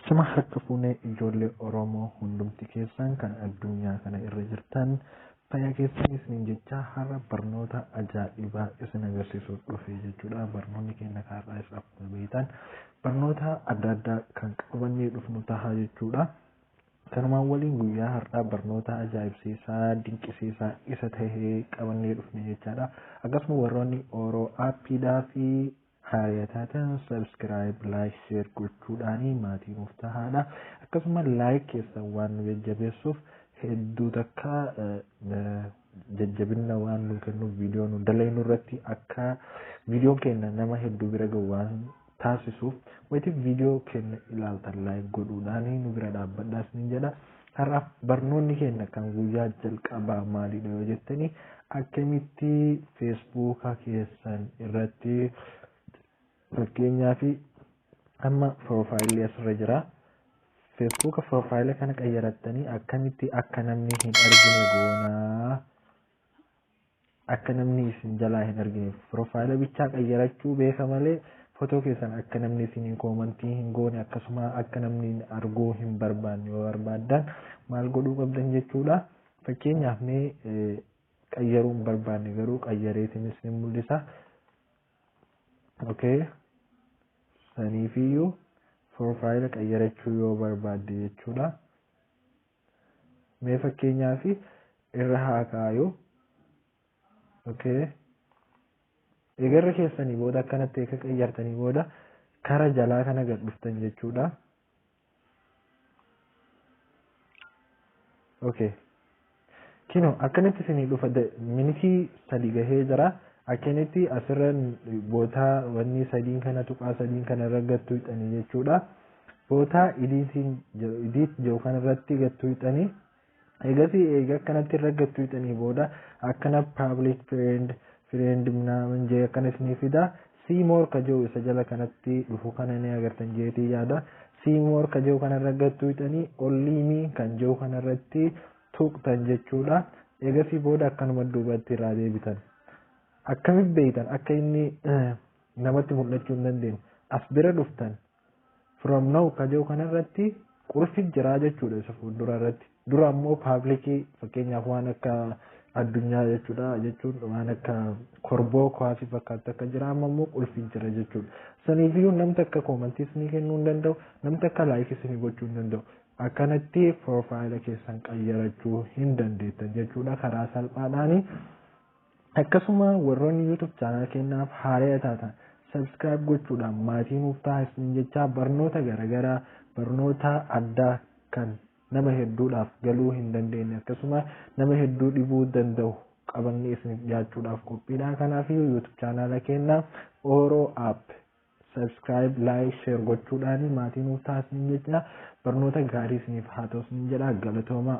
Sima harka fuunee ijoollee Oromoo hundumti keessan kan addunyaa kana irra jirtan fayyaa keessan isiniin jecha har'a barnoota ajaa'ibaa isin agarsiisuu dhufe jechuudha. Barnoonni keenya har'aa isa akkuma beektan barnoota adda addaa kan qabannee dhufnu taha jechuudha. Kanumaan waliin guyyaa har'aa barnoota ajaa'ibsiisaa, dinqisiisaa isa tahe qabannee dhufne jechaadha. Akkasuma warroonni Oro Appiidhaa fi haariya taatan subscribe, like, share gochuudhaan maatii nuuf tahaadha. Akkasuma like keessan waan nu jajjabeessuuf hedduu takka jajjabinna waan nu kennuuf viidiyoo nu dalaynu irratti akka viidiyoon keenya nama hedduu bira gahu waan taasisu. Wayita video keenna ilaaltan like godhuudhaan nu bira dhaabbadhaa isiniin jedha. Har'a barnoonni keenna kan guyyaa jalqabaa maalidha yoo jettanii akkamitti Facebook keessan irratti fakkeenyaaf amma piroofaayilii asirra jira. Facebook piroofaayila kana qayyarattanii akkamitti akka namni hin argine goonaa Akka namni isin jalaa hin argineef profile bichaa qayyarachuu beeka malee photo keessan akka namni isiniin koomantii hin goone akkasuma akka namni arguu hin barbaanne yoo barbaaddan maal godhuu qabdan jechuudha. Fakkeenyaaf mee qayyaruu hin barbaanne garuu qayyareetiin isin mul'isa. Okay. Saniifiyyuu profile qayyarachuu yoo barbaadde jechuudha. Mee fakkeenyaaf irra haa kaayu. Okay. Eegarri keessanii booda akkanatti eega qayyartanii booda kara jalaa kana gad dhuftan jechuudha. Okay. Kino akkanatti isinii dhufa da- minitii sadi gahee jira. Akkanatti asirra bootaa wanni sadiin kana tuqaa sadiin kana irra gattu hidhanii jechuudha. bootaa idiitiin jedhu idiit jedhu kanarratti gad tuuxanii eegasii eega akkanatti irra gad tuuxanii booda akkana public friend friend minaamin jee akkana isinii fida see more ka jedhu isa jala kanatti dhufu kana ni agartan jeetii yaada see more ka jedhu kanarra gad tuuxanii only me kan jedhu kanarratti tuuqtan jechuudha eegasii booda akkanuma duubatti irraa deebitan akkamitti beektan akka inni namatti mul'achuu hin dandeenye as bira dhuftan From now ka jiru kanarratti qulfi jiraa jechuudha isa fuuldura irratti. Dura ammoo paablikii fakkeenyaaf waan akka addunyaa jechuudha jechuun waan akka korboo kuwaasii fakkaatu akka jira amma ammoo qulfi jira jechuudha. Saniifiyyuu namni akka koomantiis ni kennuu hin danda'u namni akka laayikis ni gochuu hin danda'u. Akkanatti piroofaayila keessan qayyarachuu hin dandeettan jechuudha karaa salphaadhaani. Akkasuma warroonni YouTube channel keenyaaf haaraya taatan subscribe gochuudhaan maatii nuuf taha isiniin jechaa barnoota garagaraa barnoota addaa kan nama hedduudhaaf galuu hin dandeenye akkasuma nama hedduu dhibuu danda'u qabannee isiniif dhiyaachuudhaaf qophiidha. Kanaaf YouTube channel keenya Oro App subscribe like share gochuudhaan maatii nuuf ta'a isiniin jecha barnoota gaarii isiniif haa ta'u isiniin jedha galatoomaa.